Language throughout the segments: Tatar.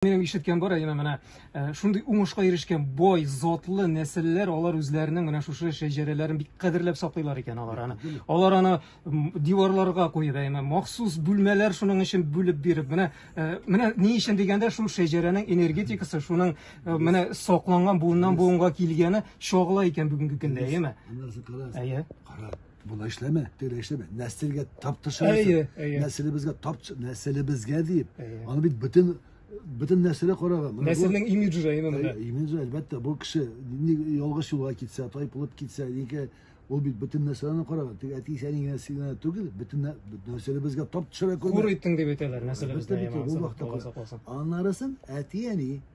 Минем ишеткән бар әйеме менә э, шундый уңышка ирешкән бай затлы нәселләр алар үзләренең менә шушы шәҗәрәләрен бик кадерләп саклыйлар икән алар аны. Алар аны диварларга куеп әйеме махсус бүлмәләр шуның өчен бүлеп биреп менә э, менә ни өчен дигәндә шул шәҗәрәнең энергетикасы шуның э, менә сакланган буыннан буынга килгәне чагыла икән бүгенге көндә әйеме? Әйе. Кара. Болай эшләмә, тегеләй эшләмә. Нәселгә тап төшерәсең. Нәселебезгә тап нәселебезгә дип. Аны бит бөтен бөтен нәселе караган. Нәселнең имиджы да именно да. Имиджы әлбәттә, бу кеше ялгыш юлга китсә, тайпылып китсә, нигә ул бит бөтен нәселне караган. Тик әти сәни генә сигнә түгел, бөтен нәселебезгә тап төшерә күрмә. Хур иттең дип әйтәләр нәселебездә. Бу вакытта. Аннарысын әти әни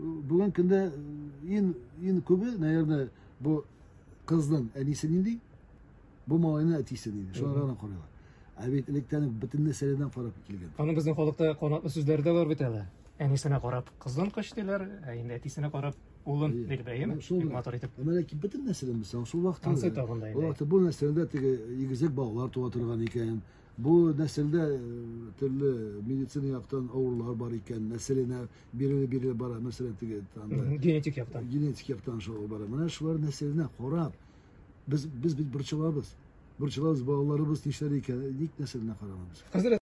Бүгенге көндә ин ин күбе, наверное, бу кызның әнисе нинди, бу малайның әтисе нинди. Шуларга гына карыйлар. Ә бит электән үк бөтен нәрсәләрдән карап килгән. Аны безнең халыкта канатлы сүзләре дә бар бит әле. Әнисенә карап кызын кыш диләр, ә инде әтисенә карап улын Әйе. диләр, әйеме? Менә шул Бик матур итеп. Ә менә ки бөтен нәрсәдән без шул вакытта. Танцы табында инде. Ул вакытта бу нәрсәдә теге игезәк балалар туа торган икән. Бу нәселдә э, төрле медицина яктан авырулар бар икән. Нәселенә бирелеп бирелеп бара мәсәлән теге анда генетик яктан генетик яктан шулай бара менә шулар нәрсәләренә карап без без бит борчылабыз борчылабыз балаларыбыз нишләр икән ник нәрсә генә карамыйбыз хәзер